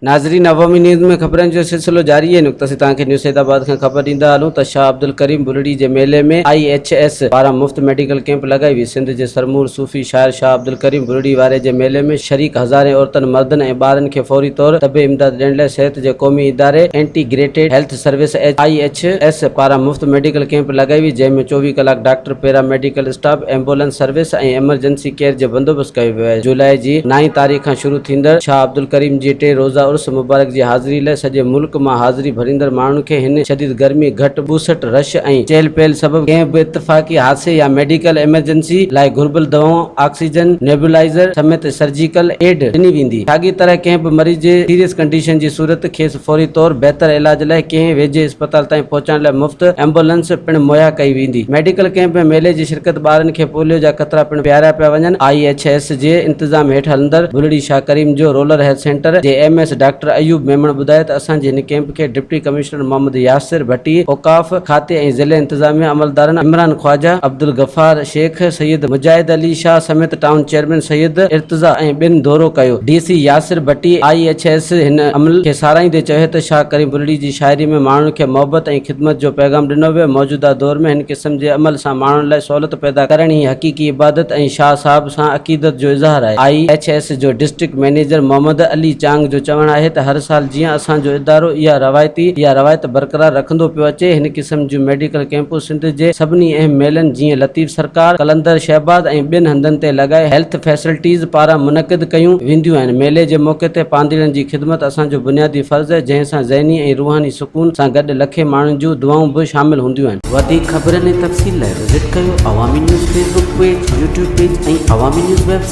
ناظرين عوامي نيوز ۾ خبرن جو سلسلو جاري آهي نقطه سين توهان کي نيو سيد آباد کان خبر ڏيندا هلون ته شاهه عبدالڪريم ٻرڙي جي ميلي ۾ آئي ايڇ ايس پاران مفت ميڊيڪل ڪيمپ لڳائي وئي سنڌ جي سرمور صوفي شاعر شاهه عبدالڪريم ٻرڙي واري جي ميلي ۾ شريڪ هزارين عورتن مردن ۽ ٻارن کي فوري طور طبي امداد ڏيڻ لاء صحت جي قومي اداري integrated health service H I H S پاران مفت ميڊيڪل ڪيمپ لڳائي وئي جنهن ۾ چوويهه ڪلاڪ doctor paramedical staff ambulance service ۽ emergency care جو بندوبست ڪيو ويو آهي جولاء جي نائين تاريخ کان شروع ٿيندڙ شاهه عبدالڪريم جي ٽي روزه عرس مبارڪ جي حاضري لاء سڄي ملڪ مان حاضري ڀريندڙ ماڻهن کي هن شديد گرمي گهٽ ٻوسٽ رش ۽ چهل پهل سبب ڪنهن به اتفاقي حادثي يا ميڊيڪل ايمرجنسي لاء گهربل دوائون آڪسيجن نيبولائيزر سميت سرجيڪل ايڊ ڏني ويندي ساڳي طرح ڪنهن به مريض جي سيريس ڪنڊيشن جي صورت کيس فوري طور بهتر علاج لاء ڪنهن ويجهي اسپتال تائين پهچائڻ لاء مفت ايمبولنس پڻ مهيا ڪئي ويندي. ميڊيڪل ڪئمپ ۾ ميلي جي شرڪت ٻارن کي پوليو جا قطرا پڻ پياريا پيا وڃن، آء ايڇ ايس جي انتظام هيٺ هلندڙ بلڙي شاهه ڪريم جو رولر هيلٿ سينٽر جي M S doctor Ayub Memon ٻڌايو ته اسان جي هن ڪئمپ کي ڊپٽي ڪمشنر محمد ياسر ڀٽي، اوقاف، کاتي ۽ ضلعي انتظاميه عملدارن عمران خواجه، عبدالغفار، شيخ سيد مجاهد علي شاهه سميت ٽائون چيئرمين سيد ارتضيٰ ۽ ٻين دورو ڪيو. D C Yasir Bhatti, I H S, هن عمل کي ساراهيندي چيو ته شاهه ڪريم بلڙي جي شاعري ۾ ماڻهن کي محبت ۽ خدمت جو پيغام ڏنو ويو، موجوده دور ۾ هن قسم جي عمل سان ماڻهن لاء سهولت پيدا ڪرڻ ئي حقيقي عبادت ۽ شاهه صاحب سان عقيدت جو اظهار آهي. آء ايڇ ايس جو ڊسٽرڪٽ مئنيجر محمد علي چانگ جو چوڻ آهي ته هر سال جيئن اسان جو ادارو اها روايتي اها روايت برقرار رکندو پيو اچي، هن قسم جون ميڊيڪل ڪئمپون سنڌ جي سڀني اهم ميلن جيئن لطيف سرڪار، قلندر شهباز ۽ ٻين هنڌن تي لڳائي هيلٿ فيسلٽيز پاران منعقد ڪيون وينديون آهن. ميلي جي موقعي تي پانڌيئڙن جي خدمت اسان جو بنيادي فرض آهي جنهن سان ذهني ۽ روحاني سڪون سان گڏ لکين ماڻهن جون دعائون به شامل هونديون آهن. وڌيڪ خبرن ۽ تفصيل لاء وزٽ ڪيو Awami news Facebook page, YouTube page ۽ Awami news web site.